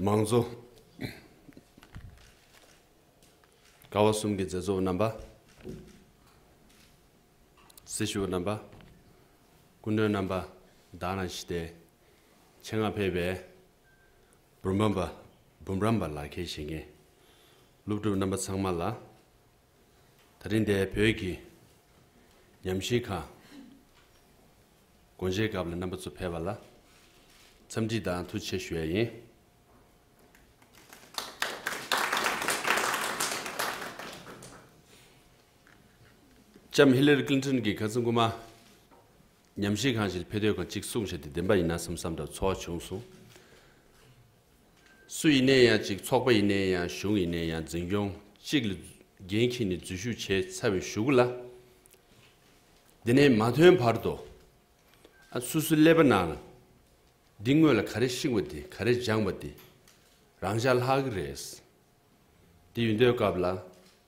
མང་གཙོ། ཀ་བ་གསུམ་གྱི་མཛད་གཙོ་བོ་རྣམ་པ། སྲི་ཞུ་བ་རྣམ་པ། སྐུ་མགྲོན་རྣམ་པ་དག་ནང་བཞིན་ཏེ། ཆེད་མངགས་ཕེབས་པའི་འབུམ་རམས་པ་ལག་འཁྱེར་བཞེས་མཁན། སློབ་ཕྲུག་རྣམ་པ་ཚང་མ་ལ། ད་རིང་འདས་བོད་ཀྱི་ཉམས་ཞིབ་ཁང་སྒོ་འབྱེད་སྐབས་ལ་རྣམ་པ་ཚོ་ཕེབས་པ་ལ་འཚམས་འདྲི་དང་ཐུགས་ཆེ་ཞུ་ཡ་ཡིན། ལྕམ་ཧི་ལི་རི་ཀླིན་ཐོན་གྱིས་ག་ཚོད་མགུ་མ་ཉམས་ཞིབ་ཁང་ཞིག་ལ་ཕེབས་དོད་ཁང་གཅིག་བསྲུངས་བྱས་ཏེ་བདེན་པ་ཡིན་ན་སམ་བསམ་འདྲ་ཚོར་བ་བྱུང་སོང། སུ་ཡིན་ནའི་ཡང་ཅིག་ཚོགས་པ་ཡིན་ནའི་ཡང་གཞུང་ཡིན་ནའི་ཡང་འཛིན་སྐྱོང་གཅིག་ལ་འགན་འཁྱེར་ནས་འཛུལ་ཞུགས་བྱས་ཚར་བའི་ཞུ་གུ་ལ། དེ་ནས་མ་ཐོན་བར་དུ་ཨ་སུ་སུ་ཀླད་པ་ན་ལ་འདི་དངོས་ལ་ག་རེ་ཤིང་བ་དེ་ག་རེ་སྦྱང་བ་དེ་རང་ཤ་ལྷག་གི་རེད། དེ་ཡུན་དོའི་སྐབས་ལ་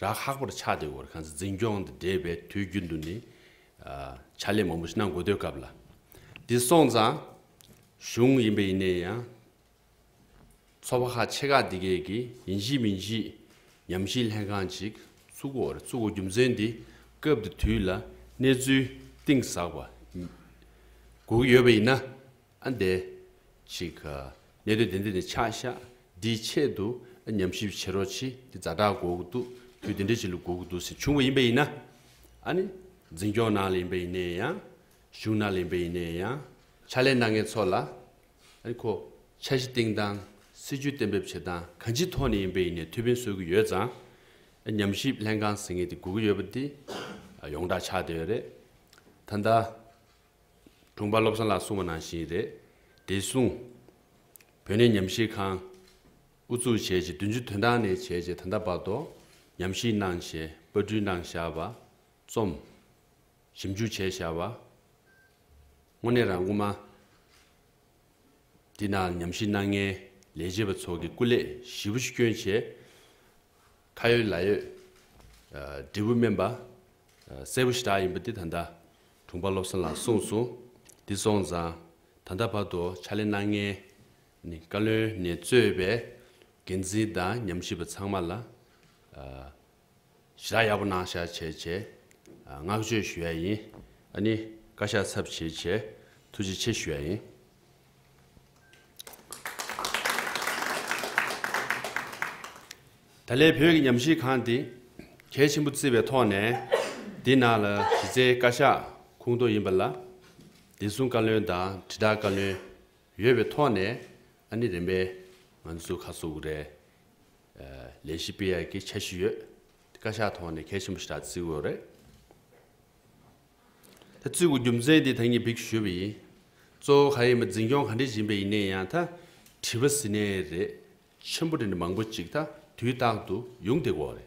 ར་ཧག་པོར་ཆགས་ཏེ་འོར་ཁང་ཚ་འཛིན་སྐྱོང་དང་འབྲེལ་བའི་དུས་རྒྱུན་དུ་ནི། ཕྱག་ལས་མང་པོ་ཞིག་གནང་དགོས་དོད་སྐབས་ལ། འདི་སོང་ཙང། གཞུང་ཡིན་པ་ཡིན་ནའི་ཡང། ཚོ་བ་ཁ་ཆེ་ཁག་འདི་གས་ཀྱིས་ཡིན་གཤིས་མིན་གཤིས། ཉམས་ཤིང་ལྷན་ཁང་ཅིག་བཙུགས་གོ་རེ་བཙུགས་གོ་རྒྱུ་མཚན་འདི་སྐབས་འདི་དུས་ལ་གནས་ཚུལ་གཏིང་ཟག་པ། དགོས་ཀྱི་ཡོད་པ་ཡིན་ན། ཨ་འདས། ཅིག། གནད་དོན་དེ་འདིར་ནས་ཆ་བཞག་འདིའི་ཆེད་དུ་ཉམས་ཞིབ་བྱེད་རོགས་བྱེད་འདི་རྫ་དྲག་འགོག་གི་འདུག་དུས་དེ་འདྲའི་བྱེད་ལུགས་འགོག་གི་འདུག་ཟེར་བྱུང་བ་ཡིན་པ་ཡིན་ན། ཨ་ནི། འཛིན་སྐྱོང་ནང་ལ་ཡིན་པ་ཡིན་ནའི་ཡང། གཞུང་ནང་ལ་ཡིན་པ་ཡིན་ནའི་ཡང། ཕྱག་ལས་གནང་མཁན་ཚོ་ལ། ཨ་ནི། ཁོ། འཆར་གཞི་བཏིང་སྟངས། སྲིད་ཇུས་གཏན་འབེབས་བྱེད་སྟངས་གང་ཅིའི་ཐོག་ནས་ཡིན་པ་ཡིན་ནའི་ཐུགས་ཕན་གསོས་ཀྱི་ཡོད་ཙང། ཨ་ཉམས་ཞིབ་ལྷན་ཁང་ཟེར་མཁན་དེ་སྒུག་གི་ཡོད་པ་དེ། ཡོངས་གྲགས་ཆགས་བསྡད་ཡོད་རེད། ད་ལྟ། དྲུང་པ་བློ་བཟང་ལགས་གསུང་བ་ནང་བཞིན་རེད། དེ་གསུང། བོད་གནས་ཉམས་ཞིབ་ཁང། དབུ་བཙུགས་བྱས་རྗེས་བདུན་ཅུ་དོན་གྲངས་ནས་བྱས་རྗེས་ད་ལྟ་བར་དུ། ཉམས་ཞིབ་གནང་ཞེས་དཔར་སྐྲུན་གནང་བཞག་པ། རྩོམ། ཞིབ་འཇུག་བྱས་བཞག་པ། དངོས་གནས་རང་དབུ་མ། འདི་ན་ཉམས་ཞིབ་གནང་མཁན་ལས་བྱེད་པ་ཚོགས་ཀྱི་སྐུ་ལས་བཞི་བོ་ཤི་སྐྱོན་བྱས། ཁ་ཡོད་ལག་ཡོད། འབྲས་བུ་སྨིན་པ། གསལ་བོ་ཞེ་དྲག་ཡིན་པ་འདི་ད་ལྟ་དྲུང་པ་བློ་བཟང་ལགས་གསུངས་སོང། འདི་སོང་ཙང་ད་ལྟ་བར་དུ་ཕྱག་ལེན་གནང་མཁན་ནི་བཀའ་བློན་ནས་གཙོས་པའི་འགན་འཛིན་དང་ཉམས་ཞིབ་པ་ཚང་མ་ལ། ཞེ་དྲག་ཡག་པོ་གནང་ཤག་བྱས་བྱས། བསྔགས་བརྗོད་ཞུ་ཡ་ཡིན། ཨ་ནི་བཀའ་ཤག་ཚབ་བྱས་བྱས། ཐུགས་རྗེ་ཆེ་ཞུ་ཡ་ཡིན། ད་ལན་བོད་ཀྱི་ཉམས་ཞིབ་ཁང་འདི་གལ་ཆེན་པོ་བརྩི་བའི་ཐོག་ནས་འདི་ནང་ལ་གཞི་རྩའི་བཀའ་ཤག་ཁུངས་གཏོགས་ཡིན་པ་ལ། བདེ་སྲུང་བཀའ་བློན་དང་དྲིལ་བསྒྲགས་བཀའ་བློན་ཡོད་པའི་ཐོག་ནས་ཨ་ནི་རིམ་པས་ང་ཚོ་ཁག་ཚོགས་རེ་ལས་གཞི་སྤེལ་ཡག་གི་འཆར་གཞི་ཡོད་དེ་བཀའ་ཤག་ཐོག་ནས་གལ་ཆེན་པོ་ཞིག་རག་བརྩི་དགོས་རེད། ད་བཙུད་གོ་རྒྱུ་མཚན་དེ་ད་ངས་བིག་ཞུས་པ་ཡིན། གཙོ་བོ་ག་ཡེ་མ་འཛིན་སྐྱོང་ག་འདྲས་བྱིན་པ་ཡིན་ནས་ཡང་ད་དྲི་བ་ཟི་ནས་རེད། ཆེན་པོ་དྲི་འདྲ་མང་པོ་ཅིག་ད་དུས་རྟག་ཏུ་ཡུང་དེ་གོ་རེད།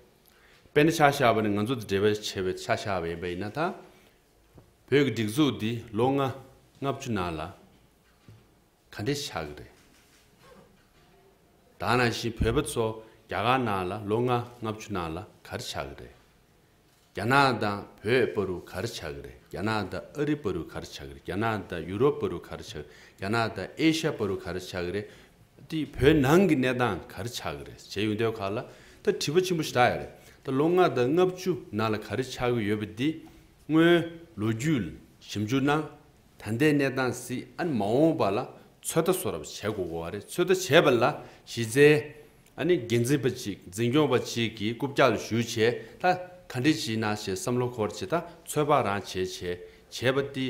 དཔེ་ན་ཆ་ཤ་བ་ནི་ང་ཚོ་ད་འབྲེལ་བ་ཆེ་བའི་ཆ་ཤ་བ་ཡིན་པ་ཡིན་ན་ད། བོད་ཀྱི་སྒྲིག་འཛུགས་འདི་ལོ་ལྔ་ལྔ་བཅུ་ནང་ལ་ག་འདྲས་ཆགས་ཀྱི་རེད། དང་ནང་བཞིན་བོད་པ་ཚོ་རྒྱ་གར་ནང་ལ་ལོ་ལྔ་ལྔ་བཅུ་ནང་ལ་ག་རེ་ཆགས་ཀྱི་རེད། རྒྱ་ནག་དང་བོད་སྤོ་རུ་ག་རེ་ཆགས་ཀྱི་རེད་རྒྱ་ནག་དང་ཨ་རི་སྤོ་རུ་ག་རེ་ཆགས་ཀྱི་རེད་རྒྱ་ནག་དང་ཡུ་རོབ་སྤོ་རུ་ག་རེ་ཆགས་ཀྱི་རེད་རྒྱ་ནག་དང་ཨེ་ཤ་སྤོ་རུ་ག་རེ་ཆགས་ཀྱི་རེད། དེ་བོད་ནང་གི་གནས་སྟངས་ག་རེ་ཆགས་ཀྱི་རེད་བྱས་ཡོད་འདོད་ཁག་ལ་ད་དྲི་བ་ཆེན་པོ་ཞིག་གྲགས་ཡོད་རེད་ད་ལོ་ལྔ་དང་ལྔ་བཅུ་ནང་ལ་ག་རེ་ཆགས་ཀྱི་ཡོད་པ་འདི་སྔོན་ལོ་རྒྱུས་ལ་ཞིབ་འཇུག་གནང་ད་ལྟའི་གནས་སྟངས་སྲིད་ཨན་མ་འོངས་པ་ལ་ཚོད་ལྟ་སོགས་རབ་བྱས་དགོས་གོ་བ་རེད་ཚོད་ལྟ་བྱས་པ་ལ་གཞི་རྩའི། ཨ་ནི་འགན་འཛིན་པ་ཅིག་འཛིན་སྐྱོང་བ་ཅིག་གིས་རྐུབ་བཀྱག་ལས་ཞུགས་བྱས་ལ་ག་འདྲི་བྱེད་ན་ཞེས་བསམ་བློ་འཁོར་བྱེད་ད་ཚོད་དཔག་རང་བྱེད་བྱེད་བྱེད་པ་འདི་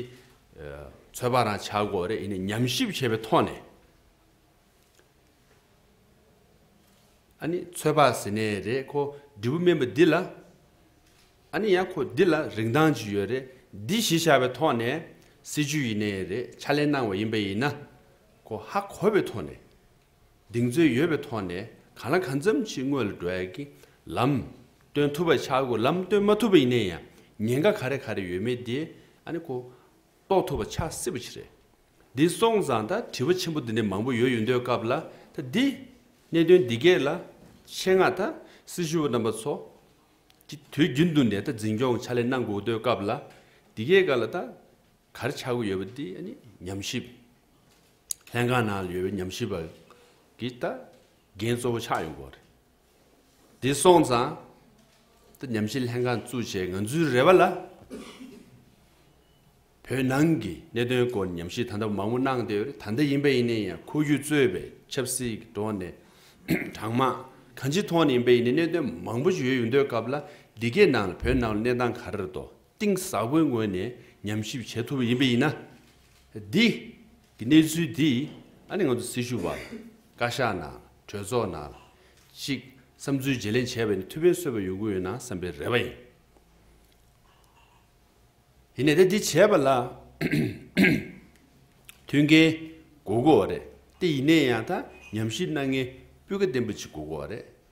ཚོད་དཔག་རང་བྱ་དགོས་རེད་ཨ་ནི་ཉམས་ཞིབ་བྱས་པའི་ཐོག་ནས་ཨ་ནི་ཚོད་དཔག་ཟེར་ནའི་རེད་ཁོ་འདྲི་བུ་སྨན་པ་འདི་ལ་ཨ་ནི་ཡང་ཁོ་འདི་ལ་རིན་ཐང་ཅི་ཡོད་རེད་འདི་གཞི་བཞག་པའི་ཐོག་ནས་སྲིད་བྱུས་ཡིན་ནའི་རེད་ཕྱག་ལེན་གནང་བ་ཡིན་པ་ཡིན་ན་ཁོ་ཧ་གོ་བའི་ཐོག་ནས། གདེང་ཚོད་ཡོད་པའི་ཐོག་ནས་གང་ལ་གང་འཚམ་ཅིག་དངོས་ལ་འགྲོ་ཡག་གི་ལམ་སྟོན་ཐུབ་པ་ཆགས་དགོས་ལམ་སྟོན་མ་ཐུབ་པ་ཡིན་ན་ཡང་ཉེན་ཁ་ག་རེ་ག་རེ་ཡོད་མེད་དེ་ཨ་ནི་གོ་རྟོགས་ཐུབ་པ་ཆགས་སྲིད་པ་ཆི་རེད། འདི་སོང་ཙང་ད་དྲི་བ་ཆེན་པོ་འདི་འདྲ་མང་པོ་ཡོད་ཡོད་འདོད་སྐབས་ལ་ད་འདི་གནད་དོན་འདི་གས་ལ་ཆེད་མངགས་ད་སྲི་ཞུ་བ་རྣམ་པ་ཚོ་གི་དུས་རྒྱུན་དུ་ནས་ད་འཛིན་སྐྱོང་ཕྱག་ལས་གནང་དགོས་འདོད་སྐབས་ལ་འདི་གས་ག་ལ་ད། གར་ཆག་གི་ཡོད་པ་དེ་ནི་ཉམས་ཞིབ་ལྷན་ཁང་ནང་ཡོད་པའི་ཉམས་ཞིབ་པ་གི་ལྟ་འགན་གཙོ་བོ་ཆགས་ཡོད་སྐོར་རེད། དེ་སོང་ཙང་ད་ཉམས་ཞིབ་ལྷན་ཁང་བཙུགས་རྗེས་ང་ཚོའི་རེ་བ་ལ་བོད་ནང་གི་གནད་དོན་སྐོར་ཉམས་ཞིབ་ད་ལྟ་མང་པོ་གནང་བསྡད་ཡོད་རེད་ད་ལྟ་ཡིན་པ་ཡིན་ནའི་ཡང་ཁོ་བརྒྱུད་གཙོས་པའི་ཆབ་སྲིད་ཀྱི་ཐོག་ནས་དྲང་དམག་གང་ཅིའི་ཐོག་ནས་ཡིན་པ་ཡིན་ནའི་གནད་དོན་མང་པོ་ཞིག་ཡོད་ཡོད་འདོད་སྐབས་ལ་འདི་གའི་ནང་ལ་བོད་ནང་ལ་གནས་སྟངས་ག་རེ་རེད་དོ། གཏིང་ཟབ་པོའི་ངོས་ནས་ཉམས་ཞིབ་བྱེད་ཐུབ་པ་ཡིན་པས་ཡིན། འདི་གི་གནས་ཚུལ་འདིས་ཨ་ནི་ང་ཚོ་སྲི་ཞུ་བ་བཀའ་ཤག་ནང་གྲོས་ཚོགས་ནང་ཅིག་བསམ་ཚུལ་བརྗེ་ལེན་བྱས་པ་ནི་ཐུགས་ཕན་གསོས་པ་ཡོང་གི་ཡོད་ན་བསམ་པའི་རེ་བ་ཡིན། ཡིན་ནས་དེ་འདི་བྱས་པ་ལ་མཐུན་མཁན་དགོས་དགོས་བ་རེད་དེ་ཡིན་ནས་ཡང་ད་ཉམས་ཞིབ་གནང་མཁན་སྤུས་ཀ་ལྡན་པ་ཅིག་དགོས་དགོས་བ་རེད་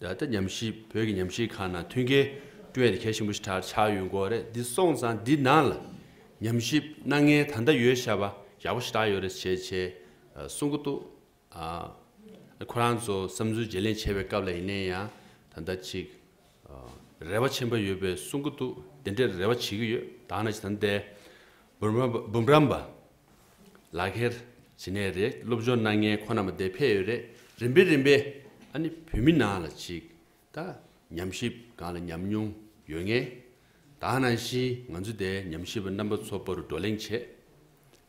ད་ལྟ་ཉམས་གཞིས་བོད་ཀྱི་ཉམས་གཞིས་ཁང་ནང་མཐུན་རྐྱེན་སྤྲོད་ཡས་ཏེ་གལ་ཆེན་པོ་ཞིག་ཆགས་ཆགས་ཡོད་འགོ་རེད་འདི་སོང་ཙང་འདི་ནང་ལ་ཉམས་གཞིས་སྣ་ལྔའི་ད་ལྟ་ཡོད་ཤ་བ་ཡག་པོ་ཞིག་བཏགས་ཡོད་རེད་ཞེས་ཆེས་གསུང་གི་འདུག་ཨ་ཁོ་རང་ཚོ་བསམ་ཚུལ་བརྗེ་ལེན་བྱེད་པའི་སྐབས་ལ་ཡིན་ནའི་ཡང་ད་ལྟ་ཅིག་རེ་བ་ཆེན་པོ་ཡོད་པའི་གསུང་གི་འདུག་དེ་འདྲའི་རེ་བ་བྱེད་ཀྱི་ཡོད་དང་ན་ཅིག་ད་ལྟའི་འབུམ་རམས་པ་ལག་ཁྱེར། ཇི་ནས་རེད་སློབ་སྦྱོང་གནང་མཁན་ཁོ་ན་མ་དེ་ཕེ་ཡོད་རེད་རིམ་པས་རིམ་པས་ཨ་ནི་བོད་མི་ནང་ལ་ཅིག་ད་ཉམས་ཞིབ་སྒང་ལ་ཉམས་མྱོང་ཡོད་ངེས་དང་ནང་བཞིན་ང་ཚོ་དེ་ཉམས་ཞིབ་པ་རྣམ་པ་ཚོ་པ་རུ་བགྲོ་གླེང་བྱས་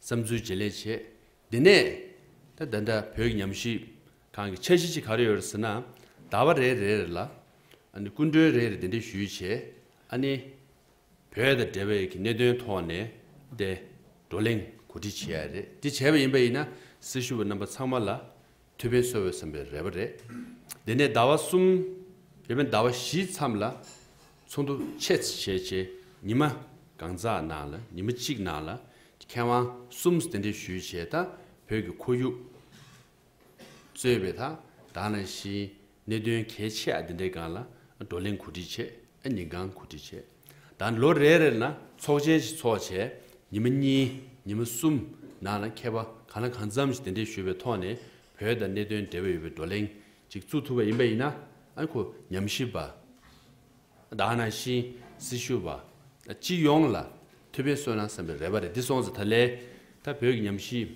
བསམ་ཚུལ་བརྗེ་ལེན་བྱས་དེ་ནས་ད་ད་ད་བོད་ཀྱི་ཉམས་ཞིབ་སྒང་གི་འཆར་གཞི་ཅིག་ག་རེ་ཡོད་རེད་ཟེར་ན་ཟླ་བ་རེ་རེར་ལ་ཨ་ནི་སྐུ་མགྲོན་རེ་རེ་དེ་འདྲས་ཞུས་བྱས་ཨ་ནི། བོད་དང་འབྲེལ་བའི་གནད་དོན་ཐོག་ནས་ཏེ། བགྲོ་གླེང་གོ་སྒྲིག་བྱས་ཡ་རེད་དེ་བྱས་པ་ཡིན་པ་ཡིན་ན་སྲི་ཞུ་བ་རྣམ་པ་ཚང་མ་ལ་ཐུགས་ཕན་གསོ་འོས་སམ་པའི་རེ་བ་རེད་དེ་ནས་ཟླ་བ་གསུམ་དེ་མིན་ཟླ་བ་བཞི་མཚམས་ལ་ཚོགས་འདུ་ཆེ་བྱེད་ཆེ་ཉི་མ་གང་ཙག་ནང་ལ་ཉི་མ་གཅིག་ནང་ལ་མཁས་དབང་གསུམ་དེ་འདྲས་ཞུས་བྱས་ད་བོད་ཀྱི་ཁོར་ཡུག། གཙོས་པའི་དག་སྣང་བཞིའི་གནད་དོན་གལ་ཆེ་འདི་འདྲའི་སྒང་ལ་བགྲོ་གླེང་གོ་སྒྲིག་བྱས། ཉིན་གང་གོ་སྒྲིག་བྱས། ད་ལོ་རེ་རེར་ན་ཚོགས་ཆེན་ཞིག་ཚོགས་བྱས། ཉི་མ་གཉིས་ཉི་མ་གསུམ་ནང་ལ་མཁས་པ་གང་ལ་གང་འཚམས་ཞིག་དེ་འདྲའི་ཞུ་བའི་ཐོག་ནས་བོད་དང་གནད་དོན་འབྲེལ་བ་ཡོད་པའི་བགྲོ་གླེང་ཅིག་བཙུགས་ཐུབ་པ་ཡིན་པ་ཡིན་ན་ཁོ་ཉམས་ཞིབ་པ། དག་སྣང་བཞིའི་སྲི་ཞུ་བ། སྤྱི་ཡོངས་ལ་ཐུགས་ཕན་གསོས་ན་བསམ་པའི་རེ་བ་རེ་འདི་སོང་ཚེ་ད་ལས་ད་བོད་ཀྱི་ཉམས་ཞིབ།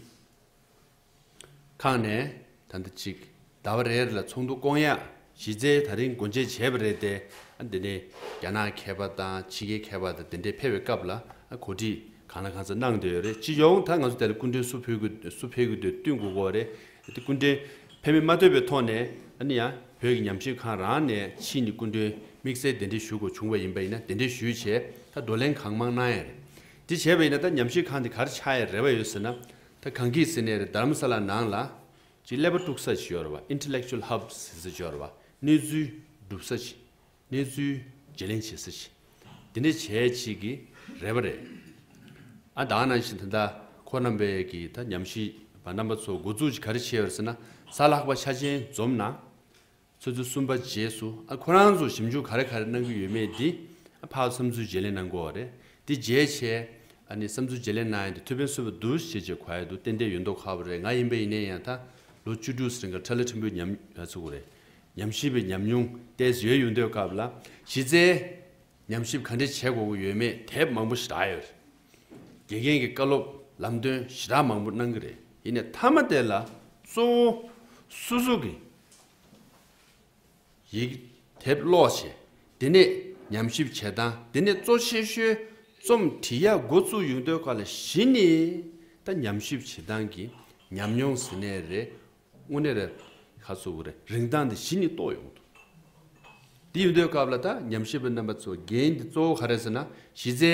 ཁང་ནས་ད་ལྟ་ཅིག་ཟླ་བ་རེར་ལ་ཚོགས་འདུ་བསྐོང་ཡག་གཞི་རྩའི་ད་རིང་སྒོ་འབྱེད་བྱས་པ་རེད་དེ། འདི་ནི་རྒྱ་ནག་མཁས་པ་དང་ཕྱི་རྒྱལ་མཁས་པ་དང་དེ་འདྲས་ཕེབས་པའི་སྐབས་ལ་གོ་སྒྲིག་གང་ལ་གང་ཚ་གནང་འདོད་རེད་ཅི་ཡོང་ད་ང་ཚོ་དེ་ལ་སྐུ་མགྲོན་སུ་ཕུལ་སུ་ཕེབས་དགོས་དོན་བསྟུན་དགོས་དགོས་རེད་དེ་སྐུ་མགྲོན་ཕེབས་མིན་མ་ལྟོས་པའི་ཐོག་ནས་ཡང་བོད་ཀྱི་ཉམས་ཞིབ་ཁང་རང་ནས་ཕྱིས་ནི་སྐུ་མགྲོན་དམིགས་བསལ་དེ་འདྲས་ཞུ་དགོས་བྱུང་བ་ཡིན་པ་ཡིན་ན་དེ་འདྲས་ཞུས་བྱས་ད་བགྲོ་གླེང་གང་མང་གནང་ཡག་རེད་དེ་བྱས་པ་ཡིན་ན་ད་ཉམས་ཞིབ་ཁང་དེ་གར་ཆགས་ཡག་རེ་བ་ཡོད་ཟེར་ན་ད་གང་གི་ཟི་ནེར་དར་མ་ས་ལ་ནང་ལ། ཀྱི་ཀླད་པ་དཀྲུག་ས་བྱེད་འོར་བ Intellectual Hub ཟིན་ས་བྱེད་འོར་བ་གནས་ཚུལ་སྒྲུབ་ས་བྱེད་གནས་ཚུལ་བརྗེ་ལེན་བྱེད་ས་བྱེད་འདི་འདྲ་བྱས་བྱེད་ཀྱི་རེད་བ་རེད་ཨ་དང་ནང་བཞིན་ད་ད་ཁོ་རྣམ་པས་ཀྱི་ད་ཉམས་ཞིབ་པ་རྣམ་པ་ཚོ་འགོ་བཙུགས་ཀྱི་ག་རེ་བྱེད་འོར་ཟེར་ན་ས་ལྷག་པ་ཆ་ཆེན་འཛོམས་ན་ཚོད་ཚོད་གསུམ་པ་རྗེས་སུ་ཨ་ཁོ་རང་ཚོ་ཞིབ་འཇུག་ག་རེ་ག་རེ་གནང་གི་ཡོད་མེད་དེ་ཨ་ཕའོ་བསམ་ཚུལ་བརྗེ་ལེན་གནང་དགོས་བ་རེད་དེ་རྗེས་ཆེ་ཨ་ནི་བསམ་ཚུལ་བརྗེ་ལེན་གནང་ཡ་དེ་ཐོད་པན་སོད་པ་འདུག་ཞེས་རྗེས་གོ་ཡ་འདུག་ཏན་ཏན་ཡོད་མདོག་ཁ་བ་རེད་ང་ཡིན་པ་ཡིན་ནའི་ཡང་ད་ལོ་བཅུ་དྲུག་སེང་ག་ཁྲ་ལེ་ཁྲིམས་པོའི་ཉམས་ཡ་ཚུགས་པ་རེད་ཉམས་ཞིབ་པའི་ཉམས་མྱོང་ཏེས་ཡོད་ཡོད་འདོད་སྐབས་ལ་གཞི་རྩའི་ཉམས་ཞིབ་ག་འདྲེ་བྱེད་དགོས་གི་ཡོད་མེད་དེབ་མང་པོ་ཞི་དྲག་ཡོད་རེད་དགེ་རྒན་གི་བཀའ་སློབ་ལམ་སྟོན་ཞི་དྲག་མང་པོ་གནང་གི་རེད་ཡིན་ནའི་མཐའ་མ་དེ་ལ་གཙོ་བོ་སོ་སོ་གི་ཡིག་དེབ་ཀློག་བྱེད། དེ་ནས་ཉམས་ཞིབ་བྱེད་སྟངས་དེ་ནི་གཙོ་ཆེ་ཤོས་རྩོམ་འབྲི་ཡག་མགོ་བཙུགས་ཡོང་དོན་ག་ལ་བཞི་ནི་ད་ཉམས་ཞིབ་བྱེད་སྟངས་ཀྱི་ཉམས་མྱོང་ཟིན་ནས་རེད་དངོས་གནས་རེད་ཁ་ཚུགས་པ་རེད་རིན་ཐང་འདི་བཞི་ནི་རྟོགས་ཡོང་ཐུབ། འདི་ཡོང་དོན་སྐབས་ལ་ད་ཉམས་ཞིབ་པ་རྣམ་པ་ཚོ་འགན་འདི་གཙོ་བོ་ག་རེད་ཟེར་ན་གཞི་རྩའི་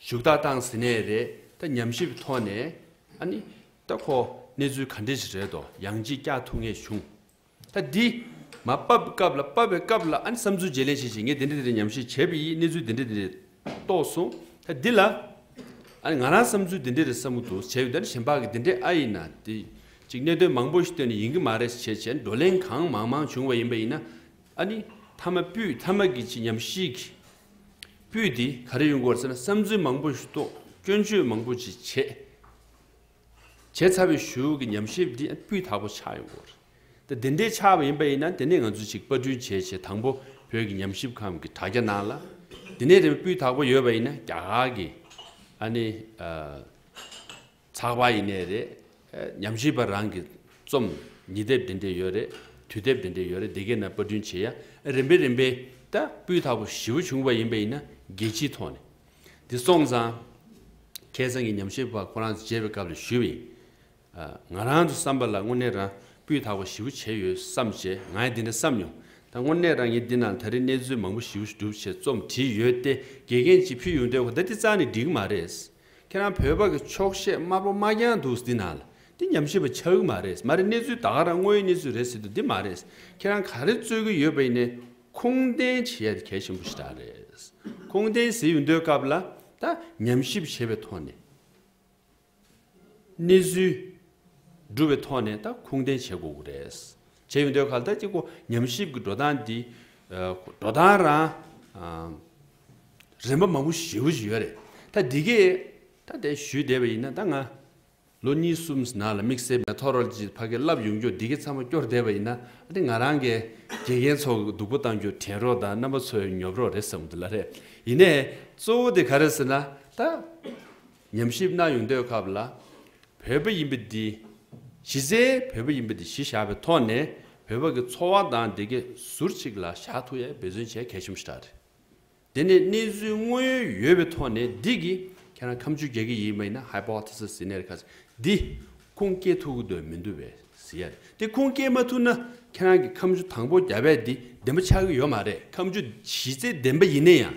ཞུགས་དག་བཏང་ཟིན་ནས་རེད་ད་ཉམས་ཞིབ་ཐོག་ནས་ཨ་ནི་ད་ཁོ་གནས་ཚུལ་ག་འདྲི་ཞིག་རེད་དོ་ཡང་ཅིག་བཀྱག་ཐུག་ངེས་བྱུང་ད་འདི་མ་པབ་སྐབས་ལ་པབ་པའི་སྐབས་ལ་ཨ་ནི་བསམ་ཚུལ་བརྗེ་ལེན་བྱེད་བྱེད་ངས་དེ་འདྲི་དེ་འདྲི་ཉམས་ཞིབ་བྱས་པ་ཡིས་གནས་ཚུལ་དེ་འདྲི་དེ་འདྲི་རྟོགས་སོང་ད་འདི་ལ་ཨ་ནི་ང་རང་བསམ་ཚུལ་དེ་འདྲི་རེད་བསམ་གི་འདུག་བྱས་ཡོད་ད་ནི་གཞན་ཕག་གི་དེ་འདྲི་ཨ་ཡིན་ན་དེ་ཅིག་གནད་དོན་མང་པོ་ཞིག་བཏོན་ནས་ཡིན་གི་མ་རེད་བྱས་བྱས་བགྲོ་གླེང་གང་མང་མང་བྱུང་བ་ཡིན་པ་ཡིན་ན་ཨ་ནི་མཐའ་མ་པུས་མཐའ་མ་གི་ཅིག་ཉམས་ཞིག་སྤུས་དེ་ག་རེ་ཡོང་གི་བར་ཚེ་ན་བསམ་ཚུལ་མང་པོ་ཞུ་དོགས་སྐྱོན་བརྗོད་མང་པོ་ཅིག་བྱས། བྱས་ཚར་བའི་ཞོའུ་གི་ཉམས་ཞིབ་འདི་སྤུས་དག་པོ་ཆགས་ཡོང་གི་རེད། ད་དེ་འདྲའི་ཆགས་པ་ཡིན་པ་ཡིན་ན་དེ་ནས་ང་ཚོ་ཅིག་པར་སྐྲུན་བྱས་བྱས་དང་པོ་བོད་ཀྱི་ཉམས་ཞིབ་ཁང་གི་དྲ་རྒྱ་ནང་ལ་དེ་ནས་རེ་བ་སྤུས་དག་པོ་ཡོད་པ་ཡིན་ན་རྒྱ་གར་གྱི་ཨ་ནི། ཚགས་པར་ཡིན་ནའི་རེད། ཉམས་ཞིབ་པ་རང་གི་རྩོམ། ཉི་དེབ་འདི་འདྲས་ཡོད་རེད། དུས་དེབ་འདི་འདྲས་ཡོད་རེད་དེ་གའི་ནང་དཔར་སྐྲུན་བྱེད་ཡ། རིམ་པས་རིམ་པས། ད་སྤུས་དག་པོ་ཞེ་བོ་བྱུང་བ་ཡིན་པ་ཡིན་ན་རྒྱལ་སྤྱིའི་ཐོག་ནས། འདི་སོང་ཙང། ཁྱེད་ཚང་གི་ཉམས་ཞིབ་པ་ཁོ་རང་མཇལ་བའི་སྐབས་ལ་ཞུས་པ་ཡིན། ང་རང་དུ་བསམ་པ་ལ་དངོས་གནས་རང་སྤུས་དག་པོ་ཞེ་བོ་བྱས་ཡོད་བསམ་བྱས་ང་ཡང་འདི་འདྲ་བསམ་མྱོང། ད་དངོས་གནས་རང་ཉིད་འདི་ནང་ད་རེས་གནས་ཚུལ་མང་པོ་ཞིབ་བསྒྲུབ་ཆེད་རྩོམ་བྲིས་ཡོད་དེ་དགེ་རྒན་གྱིས་ཕུལ་ཡོང་དོན་གོ་ད་འདི་རྩ་ནས་འགྲིག་གི་མ་རེད། ཁྱེད་རང་བོད་པ་གི་ཆོག་ཤེས་དམར་པོ་མ་རྒྱང་འདུག་འདི་ནང་ལ་འདི་ཉམས་ཞིབ་པ་ཆགས་གི་མ་རེད་མ་རེད་གནས་ཚུལ་ད་ག་རང་དངོས་ཡོད་གནས་ཚུལ་རེད་ཟེར་དུས་འདི་མ་རེད་ཁྱེད་རང་ག་རེ་རྩོད་གི་ཡོད་པ་ཡིན་ནས་ཁུངས་ལྡན་བྱེད་ཡ་འདི་གལ་ཆེན་པོ་ཞིག་རག་རེད་ཁུངས་ལྡན་གཟིགས་འོས་འདོད་སྐབས་ལ་ད་ཉམས་ཞིབ་བྱེད་པའི་ཐོག་ནས་གནས་ཚུལ་སྒྲུབ་པའི་ཐོག་ནས་ད་ཁུངས་ལྡན་བྱེད་དགོས་གི་རེད། བྱས་ཡོད་འདོད་ག་ལ་ཐད་ཀྱི་ཉམས་ཞིབ་ཀྱི་འགྲོ་སྟངས་འདི། འགྲོ་སྟངས་རང། རིམ་པ་མང་པོ་ཞིག་ཞུ་ཡོད་རེད། ད་འདི་གས། ད་དེ་ཞུས་བསྡད་པ་ཡིན་ན་ད་ང། ལོ་གཉིས་གསུམ་ནང་ལ་དམིགས་བསལ Methodology ཕ་གས་བསླབ་ཡོང་རྒྱུར་འདི་གས་ཚང་མ་སྐྱོར་བསྡད་པ་ཡིན་ན་ཨ་ཏི་ང་རང་གས་དགེ་རྒན་ཚོ་སྡུག་པོ་བཏང་རྒྱུར་དྲན་རོགས་དང་རྣམ་པ་ཚོའི་ཉོབ་རོགས་རེད་བསམ་འདུག་ལ་རེད། ཡིན་ནས་གཙོ་བོ་དེ་ག་རེད་ཟེར་ན་ད། ཉམས་ཞིབ་གནང་ཡོང་དོན་སྐབས་ལ། བོད་པ་ཡིན་པ་འདི་གཞི་རྩའི་བོད་པ་ཡིན་པ་འདི་གཞི་བཞག་པའི་ཐོག་ནས་བོད་པ་གི་འཚོ་བ་དང་བདེ་སྐྱིད་ཟུར་ཆིག་ལ་བཞག་ཐུགས་ཡ་འབད་བརྩོན་བྱས་གལ་ཆེན་པོ་ཞིག་རེད། དེ་ནས་གནས་ཚུལ་དངོས་ཡོད་ཡོད་པའི་ཐོག་ནས་འདི་གི་ཁྱེད་རང་ཁམས་ཆུ་རྒྱལ་གི་ཡིན་མ་ཡིན་ན Hypothesis ཟེར་ནས་ཁ་ཟེར་འདི་ཁུངས་སྐྱེལ་ཐུག་གི་འདོད་མི་འདུག་བས་ཟེར་ཡ་རེད་དེ་ཁུངས་སྐྱེལ་མ་ཐུག་ན་ཁྱེད་རང་གི་ཁམས་ཆུ་དང་པོ་རྒྱ་བལ་འདི་བདེན་པ་ཆགས་གི་ཡོད་མ་རེད་ཁམས་ཆུ་གཞི་རྩའི་བདེན་པ་ཡིན་ན་ཡང་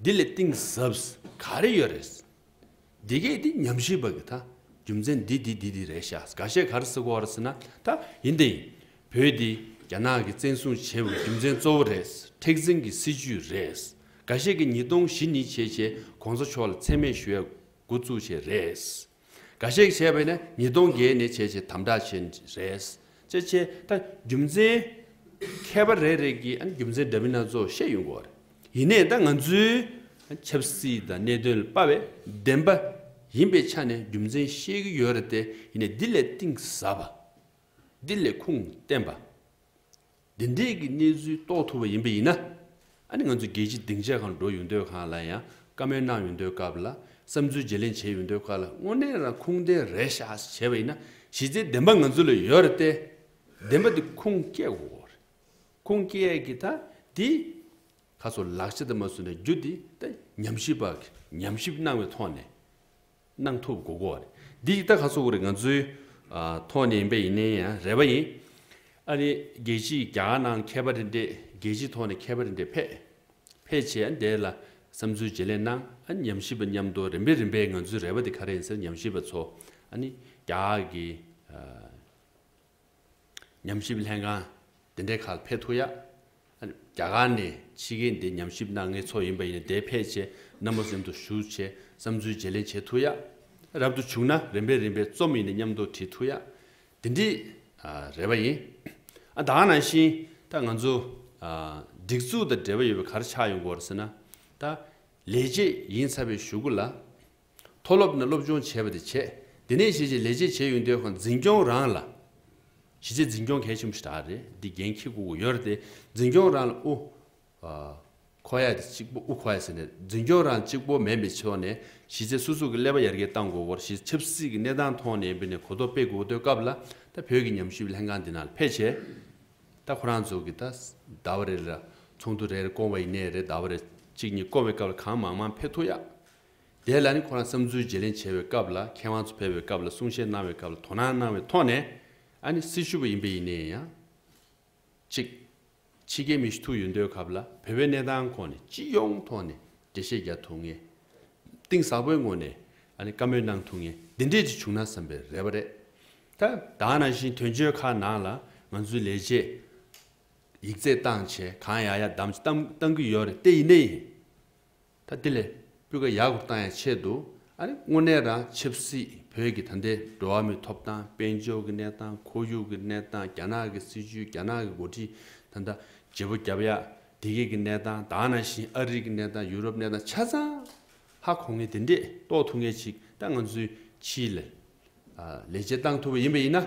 འདི་ལས་གཏིང་ཟབ་ག་རེ་ཡོད་རེད། འདི་སྐད་དེ་ཉམས་ཞིབ་པ་གི་ད་རྒྱུ་མཚན་འདི་འདི་འདི་འདི་རེད་ཤ་ག་ཤས་ག་རེ་སི་གོ་རེད་ཟེར་ན་ད་ཡིན་དེ་ཡིན་བོད་འདི་རྒྱ་ནག་གི་བཙན་བཟུང་བྱས་པའི་རྒྱུ་མཚན་གཙོ་བོ་རེད་མཁྲེགས་འཛིན་གི་སྲིད་ཇུས་རེད་ག་ཤས་ཀི་ཉིས་སྟོང་བཞི་ཉིས་བྱས་བྱས་གོང་ས་མཆོག་ལ་མཚན་སྨད་ཞུ་ཡ་དགོ་བཙུགས་བྱས་རེད། འགའ་ཤས་ཀྱིས་བྱས་པ་ཡིན་ན་ཉིས་སྟོང་བརྒལ་ནས་བྱས་ཆེད་དམ་དྲག་བྱེད་ནི་རེད། ཅེས་བཤད། ད་རྒྱུ་མཚན། མཁས་པ་རེ་རེ་གིས་རྒྱུ་མཚན་འདྲ་མིན་སྣ་ཚོགས་བཤད་ཡོང་གི་རེད། ཡིན་ནའི་ད་ང་ཚོའི་ཆབ་སྲིད་དང་གནད་དོན་ལ་དཔའ་བའི་བདེན་པ་ཡིན་པའི་ཆ་ནས་རྒྱུ་མཚན་བཤད་ཀྱི་ཡོད་རེད་དེ་ཡིན་ནའི་འདི་ལས་གཏིང་ཟབ་པ། འདི་ལས་ཁུངས་བརྟན་པ། འདི་འདྲའི་གི་གནས་ཚུལ་རྟོགས་ཐུབ་པ་ཡིན་པ་ཡིན་ན། ཨ་ནི་ང་ཚོ་རྒྱལ་སྤྱི་སྡིངས་ཆ་གང་འགྲོ་ཡོང་འདོད་གང་ལ་ཡང་བཀའ་མོལ་གནང་ཡོང་འདོད་སྐབས་ལ་བསམ་ཚུལ་བརྗེ་ལེན་བྱེད་ཡོང་འདོད་སྐབས་ལ་དངོས་གནས་རང་ཁུངས་ལྡན་རེད་ཤག་བྱས་པ་ཡིན་ན་གཞི་རྩའི་བདེན་པ་ང་ཚོ་ལ་ཡོད་རེད་དེ། བདེན་པ་དེ་ཁུངས་སྐྱེལ་དགོས་རེད། ཁུངས་སྐྱེལ་གི་ད་དེ་ཁ་སོ་ལག་ཆ་དེ་མ་བཟོས་ན་རྒྱུ་དེ་ད་ཉམས་ཞིབ་པ་གི་ཉམས་ཞིབ་གནང་བའི་ཐོག་ནས་གནང་ཐུབ་དགོས་དགོས་རེད། འདི་ཡིག་ཐག་ཁ་སོ་བོར་ང་ཚོའི། ཐོག་ནས་ཡིན་པ་ཡིན་ནའི་ཡང་རེད་པ་ཡིན། ཨ་རི་རྒྱལ་སྤྱིའི་རྒྱ་གར་ནང་མཁས་པ་རེ་འདྲས་རྒྱལ་སྤྱིའི་ཐོག་ནས་མཁས་པ་རེ་འདྲས་ཕེ། ཕེ་བྱས་ཨ་འདས་ལ་བསམ་ཚུལ་བརྗེ་ལེན་གནང་ཨ་ཉམས་ཞིབ་པ་མཉམ་དུ་རིམ་པས་རིམ་པས་ང་ཚོའི་རེ་བ་དེ་ག་རེ་ཡིན་ཟེར་ཉམས་ཞིབ་པ་ཚོ་ཨ་ནི་རྒྱ་གར་གྱི། ཉམས་ཞིབ་ལྷན་ཁང་དེ་འདྲའི་ཁག་འཕེལ་ཐུག་ཡ། རྒྱ་གར་ནས་ཕྱི་རྒྱལ་འདི་ཉམས་ཞིབ་གནང་མཁན་ཚོ་ཡིན་པ་ཡིན་དེ་ཕལ་ཆེ་ན་མོ་སེམས་དུ་ཞུགས་ཆེ་བསམ་ཚུལ་བརྗེ་ལེན་བྱེད་ཐུག་ཡ། རབ་ཏུ་བྱུང་ན་རིམ་པས་རིམ་པས་རྩོམ་ཡིན་ནས་མཉམ་དུ་བྲིས་ཐུག་ཡ། དེ་འདྲི་རེ་བ་ཡིན། ཨ་ད་ནང་བཞིན་ད་ང་ཚོ་སྒྲིག་འཛུགས་དང་འབྲེལ་བ་ཡོད་པའི་གར་ཆགས་ཡོང་གོ་ར་ཟེར་ན་ད་ལས་བྱེད་ཡིན་ཚ་བས་ཞུ་གོ་ལ། མཐོ་སློབ་ནས་སློབ་སྦྱོང་བྱས་པ་དེ་བྱས་དེ་ནས་གཞིས་བྱེས་ལས་བྱེད་བྱེད་ཡུན་དེའི་ཁོང་འཛིན་སྐྱོང་རང་ལ། གཞིས་བྱེས་འཛིན་སྐྱོང་གལ་ཆེན་པོ་ཞིག་གྲགས་རེད་འདི་འགན་ཁྱི་གུ་གུ་ཡོད་རེད་དེ་འཛིན་སྐྱོང་རང་ལ་དབུ། ཁོ་ཡ་དེ་གཅིག་པོ་དབུ་ཁོ་ཡ་ཟེར་ནས་འཛིན་སྐྱོང་རང་གཅིག་པོ་མེད་པའི་ཕྱོགས་ནས་གཞིས་བྱེས་སོ་སོ་གི་ཀླད་པ་ཡར་རྒྱས་གཏང་དགོས་སྐོར་གཞིས་ཆབ་སྲིད་ཀྱི་གནས་སྟངས་མཐོང་ནས་འབུད་ནས་གོ་རྟོགས་སྤེལ་དགོས་འདོད་སྐབས་ལ་ད་བོད་ཀྱི་ཉམས་ཞིབ་ལྷན་ཁང་འདི་ནང་ཕེབས་བྱས་ད་ཁོ་རང་ཚོ་གི་ད་ཟླ་བ་རེ་རེ་ལ་ཚོགས་འདུ་རེ་རེ་བསྐོང་བ་ཡིན་ནས་རེད་ཟླ་བ་རེ་གཅིག་གཉིས་བསྐོང་བའི་སྐབས་ལ་གང་མང་མང་ཕེབས་ཐུག་ཡག་དེ་ལ་ནི་ཁོ་རང་བསམ་ཚུལ་བརྗེ་ལེན་བྱས་པའི་སྐབས་ལ་མཁས་དབང་ཚོ་ཕེབས་པའི་སྐབས་ལ་གསུང་བཤད་གནང་བའི་སྐབས་ལ་དོ་སྣང་གནང་བའི་ཐོག་ནས་ཨ་ནི་སྲི་ཞུ་བ་ཡིན་པས་ཡིན་ནའི་ཡང། གཅིག། ཕྱི་རྒྱལ་མི་ཞུ་ཐུག་ཡོད་འདོད་སྐབས་ལ་བོད་པའི་གནས་སྟངས་ཁོ་ནས་སྤྱི་ཡོངས་ཐོག་ནས་འགྲེལ་བཤད་རྒྱག་ཐུག་ངེས། གཏིང་ཟག་པོའི་ངོ་ནས་ཨ་ནི་བཀའ་མོལ་གནང་ཐུག་ངེས་འདི་འདྲས་ཅིག་བྱུང་ན་བསམ་པའི་རེ་བ་རེད། ད་ལྟ་ནང་བཞིན་དོན་གཅོད་ཁག་ནང་ལ་ང་ཚོའི་ལས་བྱེད། ཡིག་རྩེག་སྟངས་བྱེད་གང་ཡག་ཡག་བདམས་བཏང་གི་ཡོད་རེད་ཏེ་ཡིན་ནའི་ཡིན། ད་དེ་ལས་སྤུས་ཀ་ཡག་པོ་བཏང་ཡ་ཆེད་དུ་ཨ་རི་དངོས་གནས་རང་ཆབ་སྲིད་བོད་ཀྱི་ད་ལྟའི་འགྲོ་བ་མིའི་ཐོབ་ཐང་དཔལ་འབྱོར་གྱི་གནས་སྟངས་ཁོར་ཡུག་གི་གནས་སྟངས་རྒྱ་ནག་གི་སྲིད་བྱུས་རྒྱ་ནག་གི་འགོ་ཁྲིད་ད་ལྟ་བརྗེ་པོ་རྒྱབ་ཡ་དེ་སྐད་ཀྱི་གནས་སྟངས་དག་ན་བཞིན་ཨ་རི་གི་གནས་སྟངས་ཡུ་རོབ་གནས་སྟངས་ཆ་ཚང་ཧ་གོ་ངེས་དེ་འདྲས་རྟོགས་ཐུབ་ངེས་ཅིག་ད་ང་ཚོའི་ཕྱིའི་ལས་ལས་བྱེད་བཏང་ཐུབ་པ་ཡིན་པ་ཡིན་ན་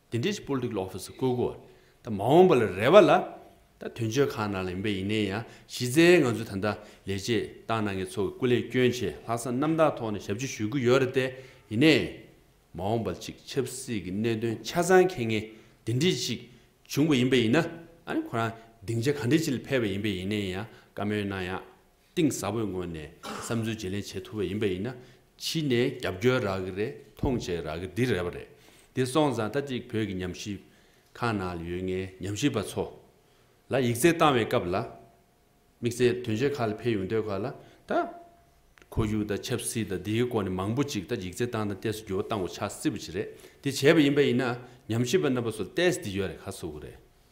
དེ་འདྲའི Political Office བསྐོས་དགོས་བ་རེད། མ་འོངས་པ་ལ་རེ་བ་ལ། ད་དོན་གཅོད་ཁང་ནང་ལ་ཡིན་པ་ཡིན་ནའི་ཡང་གཞི་རྩའི་ང་ཚོའི་ད་ལྟ་ལས་བྱེད་ཏང་ནང་གི་ཚོ་གི་སྐུ་ལས་སྐྱོན་ཆེ་ལྷག་བསམ་རྣམ་དག་ཐོག་ནས་ཞབས་ཕྱི་ཞུ་གི་ཡོད་རེད་དེ་ཡིན་ནའི། མ་འོངས་པ་ཅིག་ཆབ་སྲིད་ཀྱི་གནད་དོན་ཆ་ཚང་འཁེལ་ངེས་དེ་འདྲི་ཞིག་བྱུང་བ་ཡིན་པ་ཡིན་ན། ཨ་ནི་ཁོ་རང་སྡིངས་ཆ་ག་འདྲི་ཅིག་ལ་ཕེབས་པ་ཡིན་པའི་ཡིན་ནའི་ཡང་བཀའ་མོལ་གནང་ཡག་གཏིང་ཟབ་པོའི་ངོས་ནས་བསམ་ཚུལ་བརྗེ་ལེན་བྱེད་ཐུབ་པ་ཡིན་པ་ཡིན་ན་ཕྱི་ནས་རྒྱབ་སྐྱོར་རག་གི་རེད་མཐོང་ཆེན་རག་གི་འདི་རེད་བ་རེད་དེ་སོང་ཙང་ད་ཅིག་བོད་ཀྱི་ཉམས་ཞིབ་ཁང་ནང་ལ་ཡོད་ངའི་ཉམས་ཞིབ་པ་ཚོ་ལ་ཡིག་རྩལ་བཏང་བའི་སྐབས་ལ་དམིགས་བསལ་དོན་གཞི་ཁག་ལ་ཕེབས་ཡོང་དུས་ཁག་ལ་ད་ཁོར་ཡུག་དང་ཆབ་སྲིད་དང་འདིའི་སྐོར་ནས་མང་པོ་ཅིག་ད་ཡིག་རྩལ་བཏང་དང་ཏེས་འགྱུར་བ་བཏང་དགོས་ཆགས་སྲིད་པ་ཅིག་རེད་དེ་བྱས་པ་ཡིན་པ་ཡིན་ན་ཉམས་ཞིབ་པ་རྣམ་པ་ཚོ་ལ་ཏེས་འདི་ཡོད་རེད་ཁ་ཚུགས་རེད།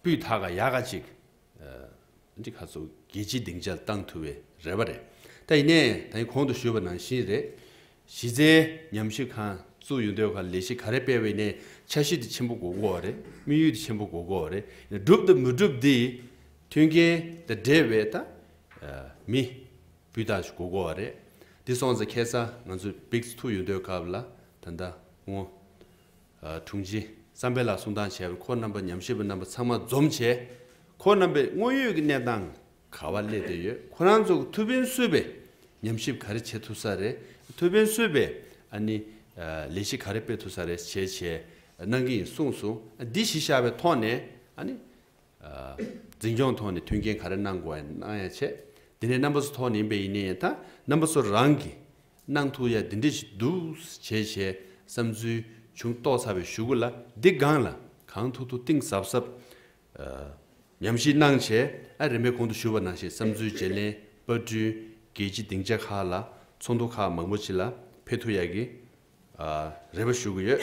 སྤུས་དག་ག་ཡ་ག་ཅིག་འདི་ག་ཚོ་རྒྱལ་སྤྱིའི་སྡིངས་ཆར་བཏང་ཐུབ་པའི་རེ་བ་རེད་ད་ཡིན་ནས་ད་ཡིན་གོང་དུ་ཞུས་པ་ནང་བཞིན་རེད་གཞི་རྩའི་ཉམས་ཞིབ་ཁང་བཙུགས་ཡོད་འདོད་ག་ལས་གཞི་ག་རེ་སྤེལ་བའི་ནས་འཆར་གཞི་དེ་ཆེན་པོ་གོ་དགོས་བ་རེད་དམིགས་ཡུལ་དེ་ཆེན་པོ་གོ་དགོས་བ་རེད་བསྒྲུབ་དང་མི་བསྒྲུབ་དེ་མཐུན་རྐྱེན་དང་འབྲེལ་བའི་ད་མི་སྤུས་དག་ཞིག་གོ་དགོས་བ་རེད་དེ་སོང་ཚེ་ཁེ་ས་ང་ཚོས་བིགས་ཐུབ་ཡོད་འདོད་ག་ལ་ད་ད་ངོ། དྲུང་ཆེ་བསམ་འཕེལ་ལགས་གསུང་སྟངས་བྱས་པས་ཁོ་རྣམ་པ་ཉམས་ཞིབ་པ་རྣམ་པ་ཚང་མ་འཛོམས་བྱས། ཁོ་རྣམ་པས་དངོས་ཡོད་ཀྱི་གནས་སྟངས་ག་བ་སླེབས་བསྡད་ཡོད་ཁོ་རང་ཚོ་གི་ཐུ་བྷིན་གསོས་པས་ཉམས་ཞིབ་ག་རེ་བྱེད་ཐུབ་ས་རེད་ཐུ་བྷིན་གསོས་པས་ཨ་ནི་ལས་གཞི་ག་རེ་སྤེལ་ཐུབ་ས་རེད་བྱས་བྱས་གནང་གི་ཡིན་གསུངས་སོང་འདི་གཞི་བཞག་པའི་ཐོག་ནས་ཨ་ནི་འཛིན་སྐྱོང་ཐོག་ནས་མཐུན་རྐྱེན་ག་རེ་གནང་དགོས་བ་ཡིན་གནང་ཡ་བྱས་དེ་ནས་རྣམ་པ་ཚོ་ཐོག་ནས་ཡིན་པས་ཡིན་ནས་ཡིན་ད་རྣམ་པ་ཚོ་རང་གི་སྣང་ཐུག་ཡ་འདི་འདྲ་ཞིག་འདུག་བྱས་བྱས་བསམ་ཚུལ་བྱུང་རྟོགས་ཚར་བའི་ཞུ་གུ་ལ་འདི་སྒང་ལ་གང་ཐུག་ཐུག་གཏིང་ཟབ་ཟབ་ཉམས་ཤིང་སྣང་བྱས་ཨ་རེ་མའི་གོང་དུ་ཞུ་བ་ནང་བཞིན་བསམ་ཚུལ་བརྗེ་ལེན་དཔར་སྐྲུན་རྒྱལ་སྤྱི་སྡིངས་ཆ་ཁག་ལ་ཚོགས་འདུ་ཁག་མང་པོ་བྱེད་ལ་ཕེབས་ཐུག་ཡག་གི་རེད་པ་ཞུ་གི་ཡོད།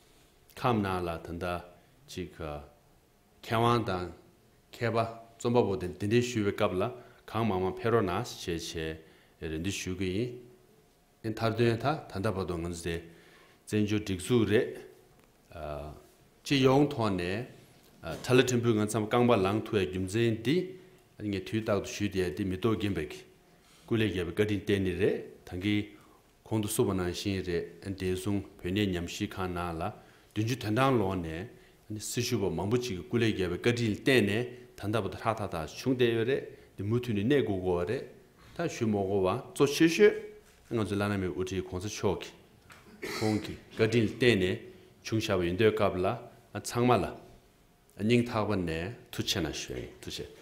ཁམས་ནང་ལ་ད་ལྟ་ཅིག་མཁས་དབང་དང་མཁས་པ་རྩོམ་པ་པོ་དེ་འདི་འདྲའི་ཞུ་བའི་སྐབས་ལ་གང་མང་མང་ཕེབས་རོགས་གནང་ཞེས་ཆེ་རེ་འདུན་ཞུ་གི་ཡིན། ཨེ་ཐར་དོན་ད་ད་ལྟ་བར་དུ་ང་ཚོ་དེ་བཙན་བྱོལ་སྒྲིག་འཛུགས་རེད། སྤྱི་ཡོངས་ཐོག་ནས་དྲ་ལ་ཕྲན་བུ་ང་ཚོའམ་རྐང་པ་ལངས་ཐུབ་པའི་རྒྱུ་མཚན་འདི་ངས་དུས་རྟག་ཏུ་ཞུས་ཏེ་འདི་མི་རྟོགས་རྒན་པའི་སྐུ་ལས་རྒྱལ་བའི་བཀའ་དྲིན་བརྟེན་ནི་རེད་ད་གིན། གོང་དུ་གསུངས་པ་ནང་བཞིན་རེད། བདེ་སྲུང་བོད་གནས་ཉམས་ཞིབ་ཁང་ནང་ལ་བདུན་ཅུ་དོན་གྲངས་ལོག་ནས། སྲི་ཞུ་བ་མང་པོ་ཅིག་གི་སྐུ་ལས་རྒྱལ་བའི་བཀའ་དྲིན་བརྟེན་ནས་ད་ལྟ་བ་དེ་ཧྲག་ཐག་ཐག་བྱུང་བསྡད་ཡོད་རེད་དེ་མུ་མཐུད་ནས་གནས་དགོས་དགོས་བ་རེད་ད། ཞུ་མོག་གོ་བ་གཙོ་ཆེ་ཤོས་ང་ཚོའི་བླ་ན་མེད་དབུ་ཁྲིད་གོང་ས་མཆོག་གིས། ཁོང་གི་བཀའ་དྲིན་བརྟེན་ནས་བྱུང་བཞག་པ་ཡིན་དུས་སྐབས་ལ་ཚང་མ་ལ་སྙིང་ཐག་པ་ནས་ཐུགས་ཆེ་ན་ཞོན་ཐུགས་ཆེ།